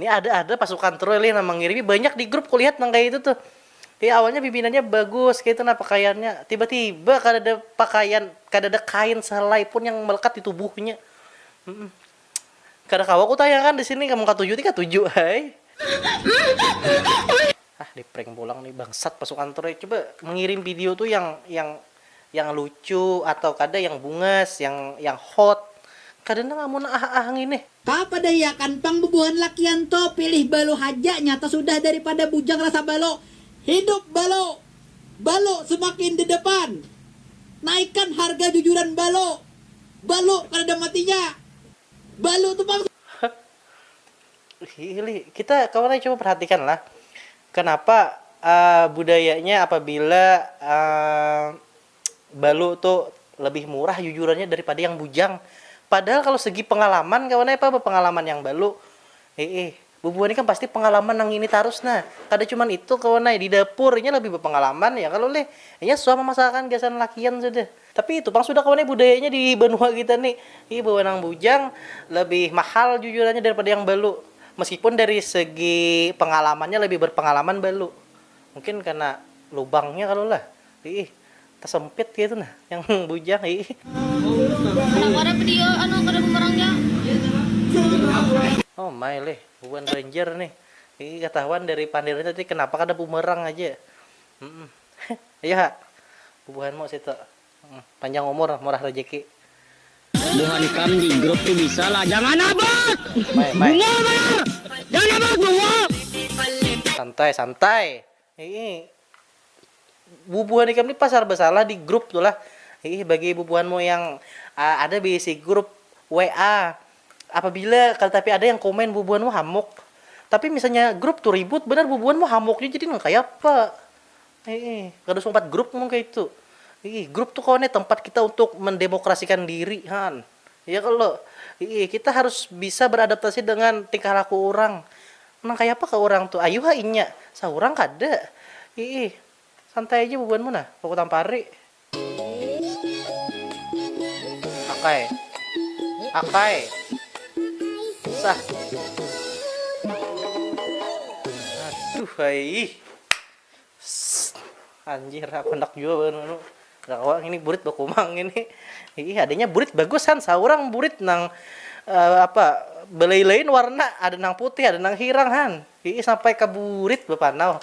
Nih ada-ada pasukan Troy lih nang mangirimi, banyak di grup kulihat nang kaya itu tuh. Ih awalnya pimpinannya bagus kaya itu nah pakaiannya, tiba-tiba kadada pakaian, kadada kain sehelai pun yang melekat di tubuhnya. Kada kawa kutayakan di sini, mun katuju ti katuju ai. Hah di prank pulang nih bangsat masuk kantor nih coba mengirim video tuh yang yang yang lucu atau kada yang bungas yang yang hot kada nang amun ah ah ngini. Kaapa dahiakan pang bubuhan lakian to pilih balo haja nyata sudah dari pada bujang rasa balo hidup balo balo semakin di depan naikan harga jujuran balo balo kadada matinya balo tu pang Hili, kita kawan ai coba perhatikanlah kenapa uh, budayanya apabila uh, balu tuh lebih murah jujurannya daripada yang bujang. Padahal kalau segi pengalaman kawan apa pengalaman yang balu. Eh, eh bubuhan kan pasti pengalaman nang ini terus nah. Kada cuma itu kawan di dapurnya lebih berpengalaman ya kalau leh. Nya suah memasakan gasan lakian sudah. Tapi itu pang sudah kawan ai budayanya di banua kita ni. Iih bawanang bujang lebih mahal jujurannya daripada yang balu. Meskipun dari segi pengalamannya lebih berpengalaman balu. Mungkin karena lubangnya kalo lah. Iih tasempit kaitu nah yang bujang iih. Oh my lih bubuhan banjar nih. Iih katahuan dari pandirnya tadi kenapa kada bumerang haja. Ayu ha. Bubuhanmu situ. Panjang umur murah rejeki. Buhan ikam di grup tu bisa lah jangan abot! Bungul banar! Jangan abot bungul! Santai santai. Iih bubuhan ikam ni pasar basalah di grup tu lah. Iih bagi bubuhanmu yang ada beisi grup WA Apabila kada tapi ada yang komen bubuhan mu hamuk. Tapi misalnya grup tu ribut banar bubuhan mu hamuk jua jadi nang kaya apa. Hiih, kada usah umpat grup mun kaitu. Hiih, grup tu kawan ai tempat kita untuk mendemokrasikan diri haan. Iya kalo? Hiih, kita harus bisa beradaptasi dengan tingkah laku urang. Nang kaya apa kah urang tu? Ayu ha inya. Saurang kada. Hiih, santai aja bubuhan mu nah, baku tampari. Akai. Akai. Susah. Aduh, hai. Anjir, aku hendak juga baru Gak kawa ini burit bakumang ini. Ih, adanya burit bagus han, saurang burit nang uh, apa belai-lain warna, ada nang putih, ada nang hirang han. Ih, sampai ke burit bapanau.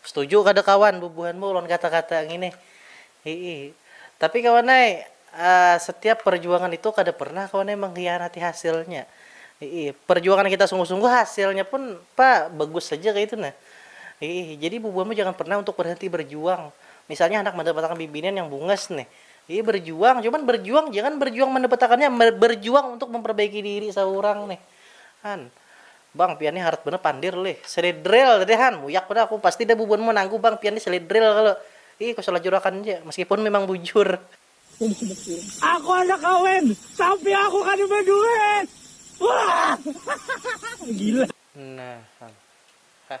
Setuju kada kawan bubuhan bu lawan kata kata ngini hii tapi kawan ai setiap perjuangan itu kada pernah kawan ai mengkhianati hasilnya hii perjuangan kita sungguh sungguh hasilnya pun pa bagus haja kaitu nah hii jadi bubuhan mu jangan pernah untuk berhenti berjuang misalnya handak mandapatakan bibinian yang bungas nih hii berjuang cuman berjuang jangan berjuang mandapatakannya berjuang untuk memperbaiki diri saurang nih han. Bang pian nih harat banar pandir lih. Seledril tadi han, muyak banar aku. Pasti dah bubuhanmu manangguh bang pian nih seledril kalo. Ih ku salajur akan ja, meskipun memang bujur. Aku handak kawin, tapi aku kada baduit. Waahhhh gila. Nah han. Hah.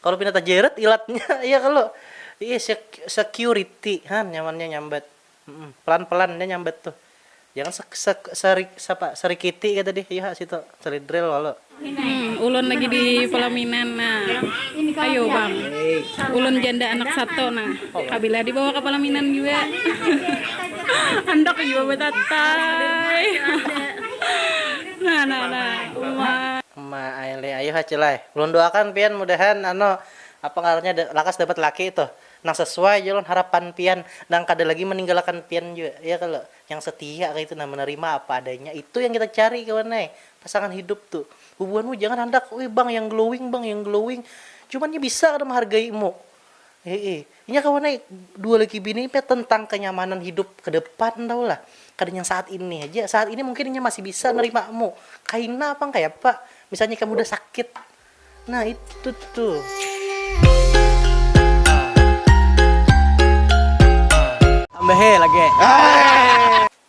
Kalu pina tajeret ilatnya ya kalo iih security ha nyamannya nyambat pelan pelan ja nyambat tuh jangan apa serikiti kaya tadi iha situ celidril kalo. Ulun lagi di palaminan nah ayo bang ulun janda anak satu nah kabilah di bawa ka palaminan jua handak jua batatai nah nah nah uma. Ma ai lih ayuh acil ai. Ulun doakan pian mudahan anu apa ngarannya lakas dapat laki itu nang sesuai ja lawan harapan pian nang kada lagi maninggalakan pian jua ya kalo yang setia kaitu nah menerima apa adanya itu yang kita cari kawan ai pasangan hidup tu bubuhanmu jangan handak ui bang yang glowing bang yang glowing cuman nya bisa kada menghargaimu Heeh. Inya kawa nai dua laki bini ni pina tentang kenyamanan hidup ke depan tahu lah. Kada yang saat ini haja. Saat ini mungkin inya masih bisa nerima mu. Kaina pang kaya apa misalnya ikam udah sakit. Nah itu tuh. Tambahi lagi.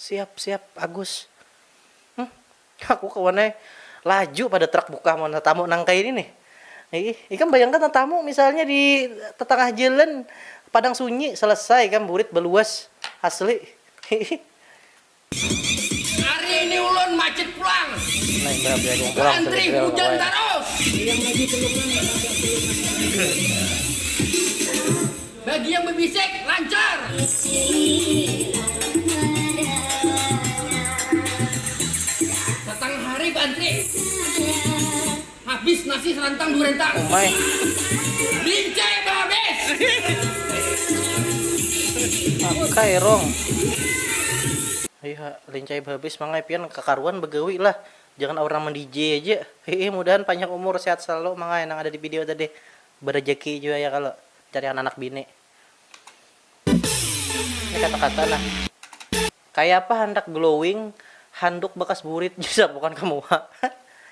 Siap siap Agus. Hm, aku kawan ai, laju pada trak bukah mun tatamu nang kaini nih. Iih, ikam bayangkan tatamu misalnya di tatangah jalan, padang sunyi, selesai ikam burit baluas, asli. Hiih. Hari ini ulun macit pulang. Nah, imbah begadung pulang Kantri hujan tarus. Ayam lagi belum nang, kada ada kuluman lagi. Bagi yang bebisik, lancar. Datang hari beantri. Habis nasi serantang dua rentang. Lince behabis. Mangai pian kakaruan begawi lah. Jangan aur nama DJ aja. Hehe mudahan panjang umur sehat selalu mangai nang ada di video tadi. Berejeki jua ya kalo cari hananak bini. Ini kata-kata nah. Kayapa handak glowing handuk bakas burit ja sapukan ka muha.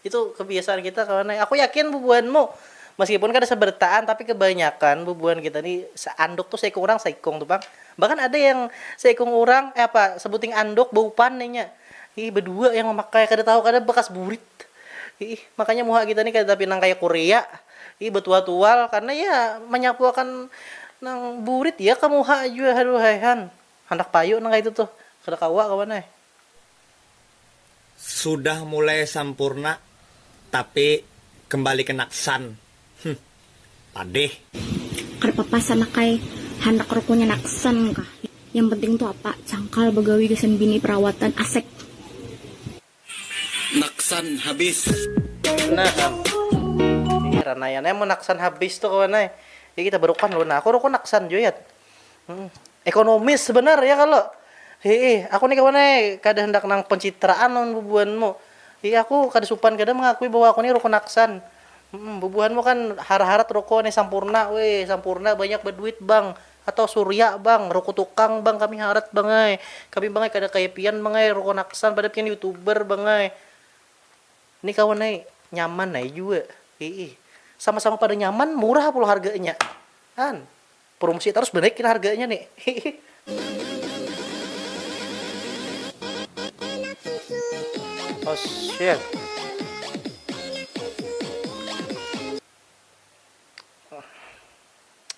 Itu kebiasaan kita kawan ai. Aku yakin bubuhanmu meskipun kada sebertaan tapi kebanyakan bubuhan kita ni seanduk tu seikung urang seikung tu pang. Bahkan ada yang seikung urang, eh apa sebuting anduk baupan inya. Ih bedua yang memakai kada tahu kada bakas burit. Iih, makanya muha kita ni kada tapinang kaya Korea. Iih, batual-tual karna ya manyapuakan nang burit ya ka muha jua. Haduh ai han, handak payu nang kaitu tuh. Kada kawa kawan ai. Sudah mulai sampurna tapi kembali ke naksan. Huh, padih. Kada papa sanak ai, handak rukunya naksan kah. Yang penting tu apa, cangkal bagawi gasan bini perawatan, asek. Naksan habis. Nah am. Heran ai anai mun naksan habis tu kawan ai. Jadi kita berukun dulu. Nah aku rukun naksan jua yat. Ekonomis banar ya kalo. Hii, aku ni kawan ai kada handak nang pencitraan lawan bubuhanmu. Hii aku kada supan kada mengakui bahwa aku ni rukun naksan. Bubuhanmu kan harat-harat rukun ai sampurna. Wih sampurna banyak baduit bang. Atau surya bang, ruko tukang bang kami harat bang ai, kami bang ai kada kaya pian bang ai ruko naksan pada pian youtuber bang ai, ni kawan ai nyaman ai jua iih, sama sama pada nyaman murah pulang harganya an, prumsi tarus banaik kena harganya ni hiih. Oshit.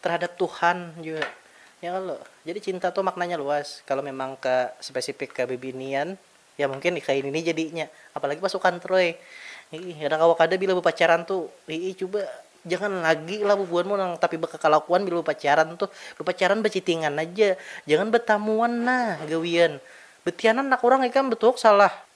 terhadap Tuhan jua ya kalo jadi cinta tuh maknanya luas kalo memang ke spesifik ke bibinian ya mungkin nih kaini nih jadinya apalagi pasukan troy iih kada kawa kada bila bepacaran tuh iih cuba jangan lagi lah bubuhan mu nang tapi bekakalakuan bila bepacaran tuh bepacaran becitingan aja jangan betamuan nah gawian betianan nak urang ikam betuhuk salah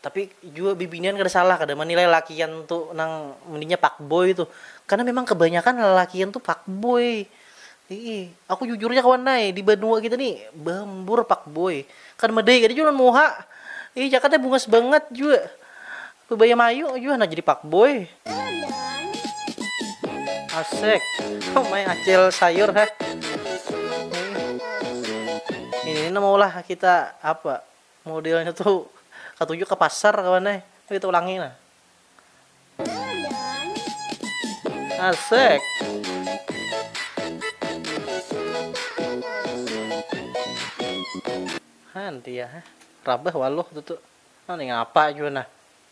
Tapi jua bibinian kada salah kada manilai lalakian tu nang mendingnya fuckboy tu. Karena memang kebanyakan lalakian tu fuckboy. Hii, aku jujur ja kawan ai, di banua kita ni baambur fuckboy. Kada madai kada jua lawan muha. Hii, jakat ai bungas bangat jua. Bebaya mayu jua handak jadi fuckboy. Asek. Oh my acil sayur heh. Ini, ini maulah kita apa? Modelnya tu katuju ka pasar kawan ai, tapi kita ulangi nah. Asek. Hantiah, rabah waluh tutu. Nah nih ngapa jua nah.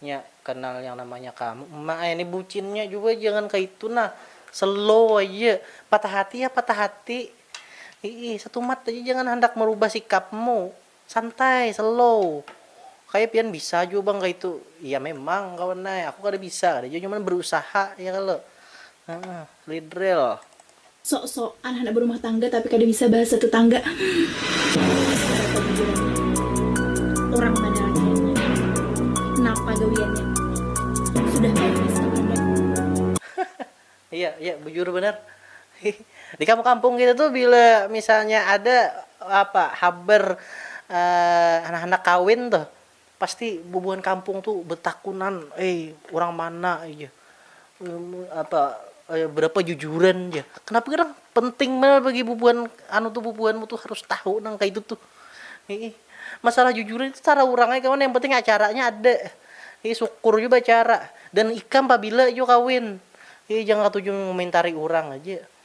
Nya kanal yang namanya kamu uma ai ni bucinnya jua jangan kaitu nah slow aja patah hati ya patah hati iih satumat aja jangan handak marubah sikapmu santai slow kaya pian bisa jua bang kaitu iya memang kawan ai aku kada bisa kada jua cuman barusaha ya kalo. Lidril. Sok sokan handak berumah tangga tapi kada bisa bahasa tetangga Pasti kada kawa bujurannya Urang mana lakiannya Napa gawiannya Sudah pns kah kada. Iya iya bujur banar di kampung kampung kita tuh bila misalnya ada apa habar anak anak kawin tuh Pasti bubuhan kampung tu betakunan, ai urang mana jar, apa berapa jujuran jar, kenapa ger nang penting banar bagi bubuhan anu tu bubuhanmu tu harus tahu nang kaya itu tuh, hiih masalah jujuran itu terserah urang ai kawan yang penting acaranya ada, hiih sukur jua baacara dan ikam pabila jua kawin, hiih jangan katuju mengomentari urang aja.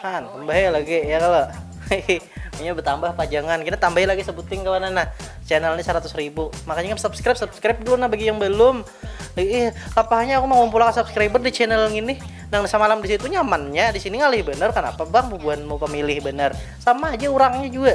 kan tambahi lagi ya kalau ini bertambah pajangan kita tambahi lagi sebutin kawan nah channel ini 100 ribu makanya kan subscribe subscribe dulu nah bagi yang belum ih kapahnya aku mau ngumpulkan subscriber di channel ini nang semalam di situ nyamannya di sini ngalih bener kenapa bang bubuhan mau pemilih bener sama aja orangnya juga